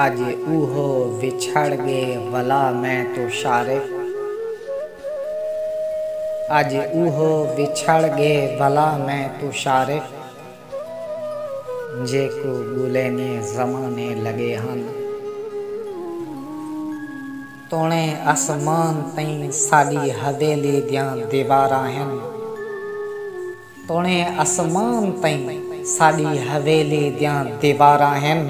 اج اوہو وچھڑ گے ولا میں توں شارے اج اوہو وچھڑ گے ولا میں توں شارے۔ جیکوں ٻولینی زمانے لڳے ہن۔ توݨے اسمان تئیں ساݙی حویلی دیاں دیواراں ہن۔ توݨے اسمان تئیں ساݙی حویلی دیاں دیواراں ہن۔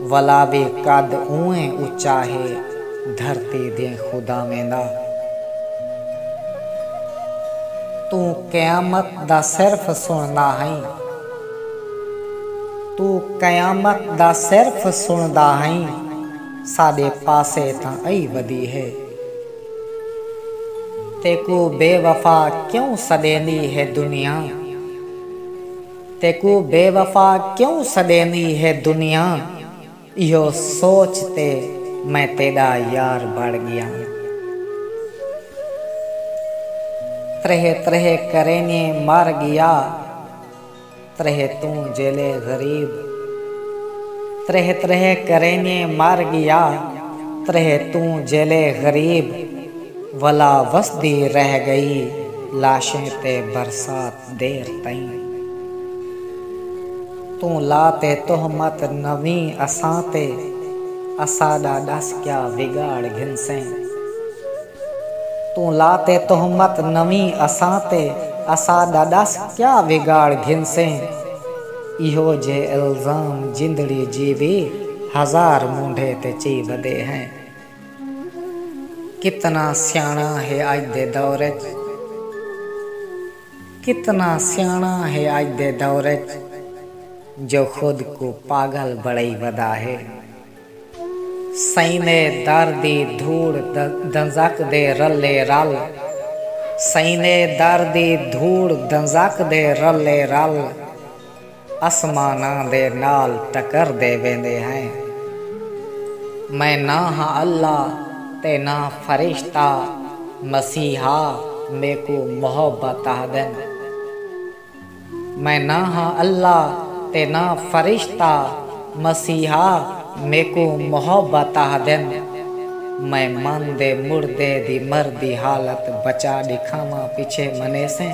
ولاوے قد اونویں اچا ہے دھرتی دیں خداویں دا۔ توں قیامت دا صرف سنڑدا ہئیں۔ توں قیامت دا صرف سنڑدا ہئیں ساڈے پاسے تاں ائی ودی ہے۔ تیکوں بے وفا کیوں سڈیندی ہے دنیا۔ تیکوں بے وفا کیوں سݙیندی ہے دنیا ایہو سوچ تے میں تیݙا یار بݨ ڳیاں تریہہ تریہہ کرینے مر ڳیا تریہہ توں جیلے غریب تریہہ تریہہ کرینے مر ڳیا تریہہ توں جیلے غریب ولا وسدی رہ ڳئی لاشیں تے برسات۔ دیر تئیں توں لا تے تہمت نویں اساں تے اساݙا ݙس کیا وگاڑ گھنسیں توں لا تے تہمت نویں اساں تے اساݙا ݙس کیا وگاڑ گھنسیں ایہو جھے الزام جندڑی جیوی ہزار مونڈھے تے چی ودے ہیں۔ کتنا سیاݨا ہے اڄ دے دور اچ کتنا سیاݨا ہے اڄ دے دور اچ جو خود کوں پاڳل بݨائی ودا ہے سئیں دے در دی دھوڑ دنزک دے رلے رل سئیں دے در دی دھوڑ دنزک دے رلے رل۔ اسماناں دے نال ٹکر دے ویندے ہیں۔ میں نہ ہاں اللہ تے نہ فرشتہ مسیحا میکوں محبت آہدن۔ میں نہ ہاں اللہ تے نہ فرشتہ مسیحا میکوں محبت آہدن۔ میں من دے مردے دی مردی حالت بچا ڈکھاواں پچھے منیسیں۔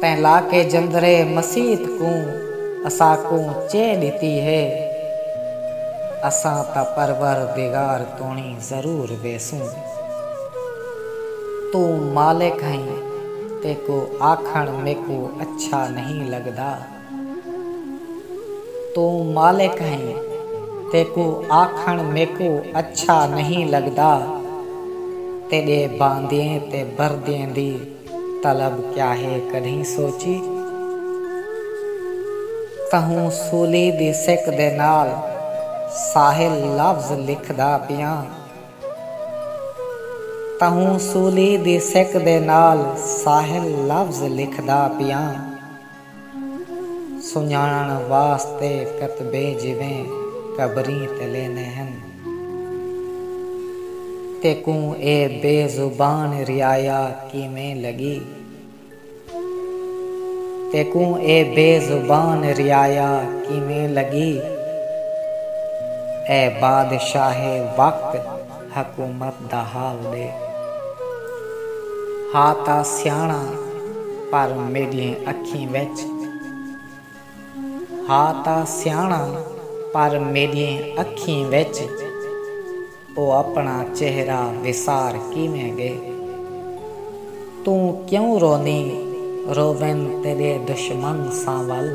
تیں لاکے جندرے مسیت کوں اساکوں چے ڈتی ہے اساں تاں پروردگار توڑیں ضرور ویسوں توں مالک ہیں تیکوں آکھن میکوں اچھا نہیں لگدا۔ توں مالک ہئیں، تیکوں آکھݨ میکوں اچھا نہیں لڳدا، تیݙے باندھیں تے بردھیں دی طلب کیا ہے کݙھیں سوچی؟ تہوں سولی دی سک دے نال ساحل لفظ لکھدا پیاں، تہوں سولی دی سک دے نال ساحل لفظ لکھدا پیاں۔ سنڄاݨݨ واسطے کتبے جیویں قبریں تے لیندے ہن۔ تیکوں اے بے زبان رعایا کیویں لڳی؟ تیکوں اے بے زبان رعایا کیویں لڳی؟ اے بادشاہ وقت! حکومت دا حال ݙے۔ ہا تاں سیاݨاں پر میݙیہں اکھیں وچ۔ ہا تاں سیاݨاں پر میݙیہں اکھیں وچ۔ او اپݨا چہرہ وسار کیویں ڳے۔ توں کیوں رونیں روون تیݙے دشمن ساں ول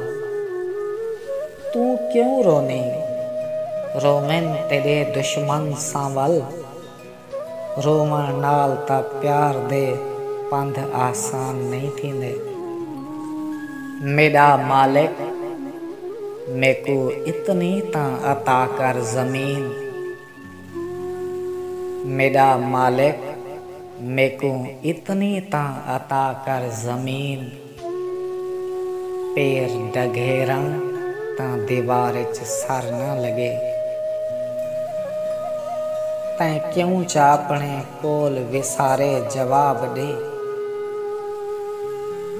توں کیوں رونیں روون تیݙے دشمن ساں ول رووݨ نال تاں پیار دے پندھ آسان نئیں تھیندے میݙا مالک میکوں اتنی تاں عطا کر زمین میݙا مالک میکوں اتنی تاں عطا کر زمین پیر ڈگھیراں تاں دیوار اچ سر نہ لڳے۔ تیں کیوں چاپݨے کول وسارے جواب ݙے۔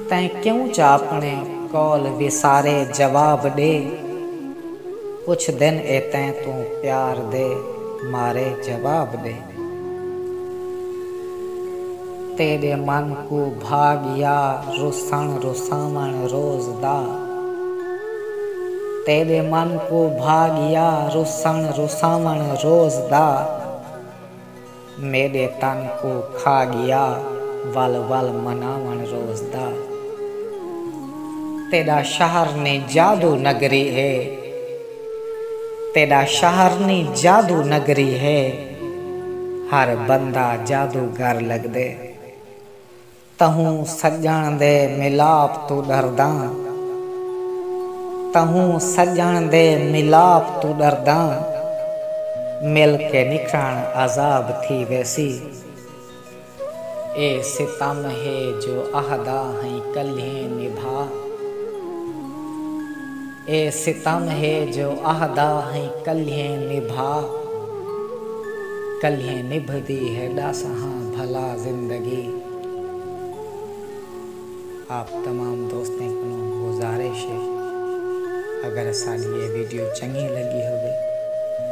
تیں کیوں چاپݨے کول وسارے جواب ݙے۔ کچھ دن اے تیں توں پیار دے مارے جواب ڈے۔ تیڈے من کوں بھا گیا رسن رساون روز دا۔ تیڈے من کوں بھا گیا رسن رساون روز دا۔ میݙے تن کوں کھا ڳیا ول ول مناوݨ روز دا تیݙا شہر نی جادو نگری ہے تیݙا شہر نی جادو نگری ہے ہر بندہ جادوگر لڳدے۔ تہوں سڄݨ دے ملاپ توں ݙرداں تہوں سڄݨ دے ملاپ توں ݙرداں مل کے نکھݨ عذاب تھی ویسی اے ستم ہے جو اہدا ہئیں کلھیں نبھا۔ اے ستم ہے جو اہدا ہئیں کلھیں نبھا کلھیں نبھدی ہے ڈاسہاں بھلا زندگی آپ تمام دوستیں کنوں گزارش ہے اگر اساڈی اے ویڈیو چنگی لگی ہووے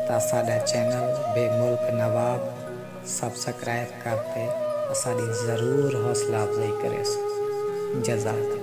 تاں اساڈا چینل بے ملک نواب سبسکرائب کر تے اساڈی ضرور حوصلہ افزائی کریسو جزاک اللہ۔